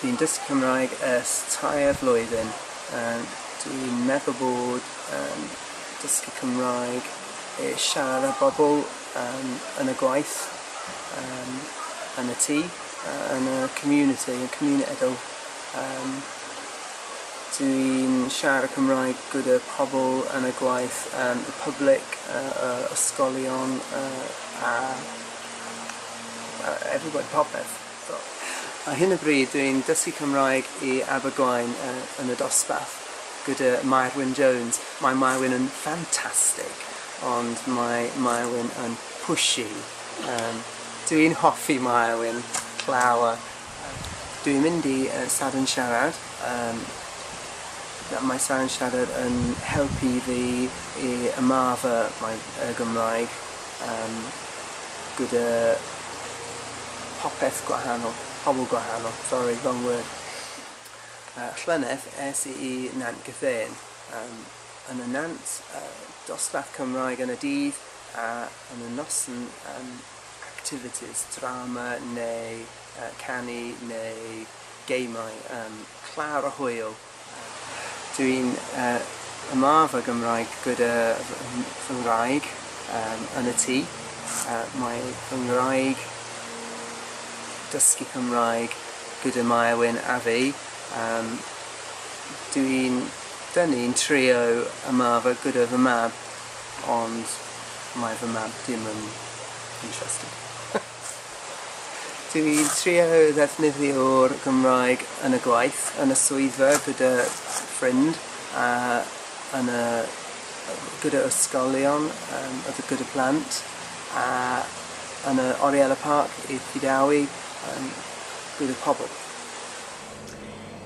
Dwi'n dysgu Cymraeg ers tair flwyddyn. Yym dwi'n meddwl bod yym dysgu Cymraeg i siarad bobl yym yn y gwaith yym yn y tŷ yy yn y community yn cymuned o yym dwi'n siarad Cymraeg gyda pobl yn y gwaith yym y public yy y ysgolion yy a yy everybody popeth. Ar hyn o bryd dw i'n dysgu Cymraeg i Abergwaun yn y dosbarth gyda Mair Wyn Jones. Mae Mair Wyn yn ffantastig ond mae Mair Wyn yn pushy. Yym dw i'n hoffi Mair Wyn llawer. Dw i'n mynd i Sadwrn Siarad yym mae Sadwrn Siarad yn helpu fi i ymarfer my- y Gymraeg. yym gyda popeth gwahanol, pobl gwahanol, sori, wrong word. Yy llynedd es i i Nant Gethên, yym yn y Nant, y dosbarth Cymraeg yn y dydd a yn y noson yym activities, drama neu yy canu neu gemau, yym clawr a hwyl. Dw i'n yma fy Gymraeg gyda fy ngwraig yn y tŷ. Mae fy ngwraig dysgu Cymraeg gyda Maewyn a fi. Dw i'n... 'dyn ni'n trio yma fy gyda fy mab ond mae fy mab dim yn interested. Dw i'n trio ddefnyddio'r Gymraeg yn y gwaith, yn y swyddfa gyda ffrind a yn y yy gyda ysgolion yym a d- gyda plant a yn y Oriel y Parc i Prydawi yym gyda pobl.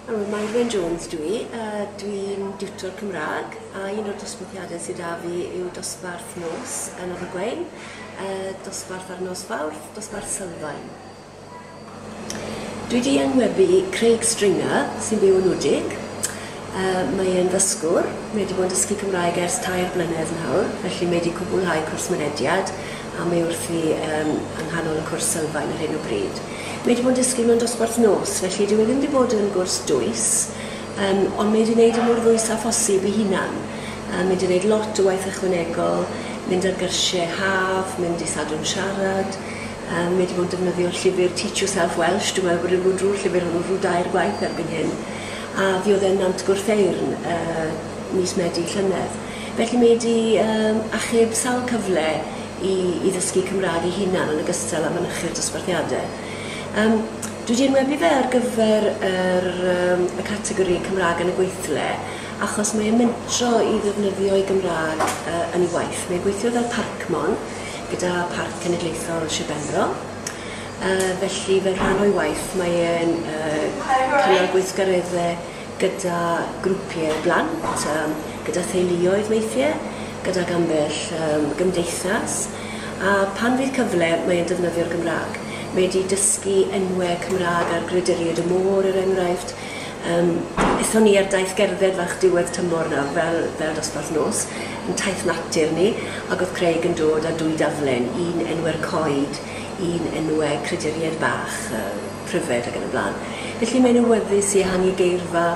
O, Mairwen Jones dwi, a dwi'n diwtor Cymraeg, a un o'r dosbarthiadau sydd da fi yw dosbarth nos yn Abergwein, uh, dosbarth ar nos Fawrth, dosbarth Sylfaen. Dwi di angwebu Craig Stringer, sy'n byw yn Wdig. Uh, mae e'n ddysgwr, mae wedi bod yn dysgu Cymraeg ers tair blynedd nawr, felly mae wedi cwblhau cwrs mynediad, a mae wrthi yym yng nghanol y cwrs sylfaen ar hyn o bryd. Mae 'di bod yn dysgu mewn dosbarth nos, felly dyw e ddim 'di bod yn gwrs dwys, yym ond mae 'di neud e mor ddwys â phosib 'i hunan. Yy mae 'di neud lot o waith ychwanegol, mynd ar gyrsie haf, mynd i Sadwrn Siarad, yym mae 'di bod yn defnyddio'r llyfyr Teach Yourself Welsh, dwi'n meddwl bod e 'di bod drwy'r llyfyr hwnnw rhyw dair gwaith erbyn hyn, a fuodd e'n Nant Gwrtheyrn yy mis Medi llynedd. Felly mae 'di yym achub sawl cyfle i i ddysgu Cymraeg ei hunan yn ogystal â mynychu'r dosbarthiade. Yym dwi 'di enwebu fe ar gyfer yr yym y categori Cymraeg yn y Gweithle achos mae e'n mentro i ddefnyddio'i Gymraeg yy yn ei waith. Mae'n gweithio fel parcmon gyda Parc Cenedlaethol Sir Benfro yy felly fel rhan o'i waith mae e'n yy cynnal gweithgaredde gyda grwpiau plant, gyda theuluoedd weithiau, gydag ambell gymdeithas, a pan fydd cyfle mae e'n defnyddio'r Gymraeg. Mae e 'di dysgu enwau Cymraeg ar Grederied y Môr, er enghraifft. Yym, aethon ni ar daith gerdded fach diwedd tymor nawr, fel fel dosbarth nos, yn taith natur ni, ac oedd Craig yn dod â dwy daflen, un enwau'r coed, un enwau crederied bach, yy. pryfed ac yn y blaen. Felly mae'n awyddus i ehangu geirfa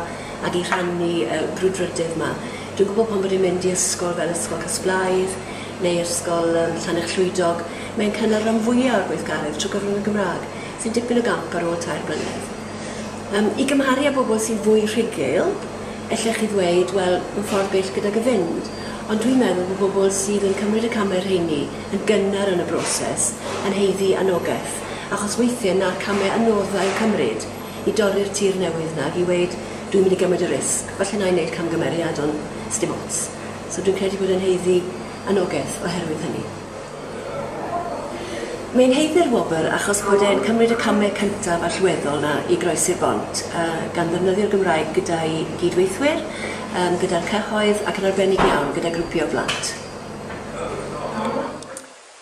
ac i rhannu y brwdfrydedd 'ma. Dwi'n gwybod pan bod e'n mynd i ysgol fel Ysgol Casblaidd neu Ysgol yym Llannerch Llwydog, mae'n cynnal ran fwya' o'r gweithgaredd trwy gyfrwng y Gymrâg, sy'n dipyn o gamp ar ôl tair blynedd. Yym, i gymharu â bobl sy'n fwy rhugl, ellech chi ddweud, wel, mae'n ffordd bell gydag y fynd. Ond dwi'n meddwl bod bobl sydd yn cymryd y camau rheini yn gynnar yn y broses yn haeddu annogaeth. achos weithiau na'r camau anodd a'u cymryd i dorri'r tir newydd 'na i weud 'dwi'n mynd i gymryd y risg, falle 'nai neud camgymeriad ond sdim ots'. So dwi'n credu bod e'n haeddu annogaeth oherwydd hynny. Mae'n haeddu'r wobr achos bod e'n cymryd y camau cyntaf allweddol 'na i groesi'r bont, gan ddefnyddio'r Gymraeg gyda'i gyd-weithwyr, gyda'r cyhoedd ac yn arbennig iawn gyda grwpiau o blant.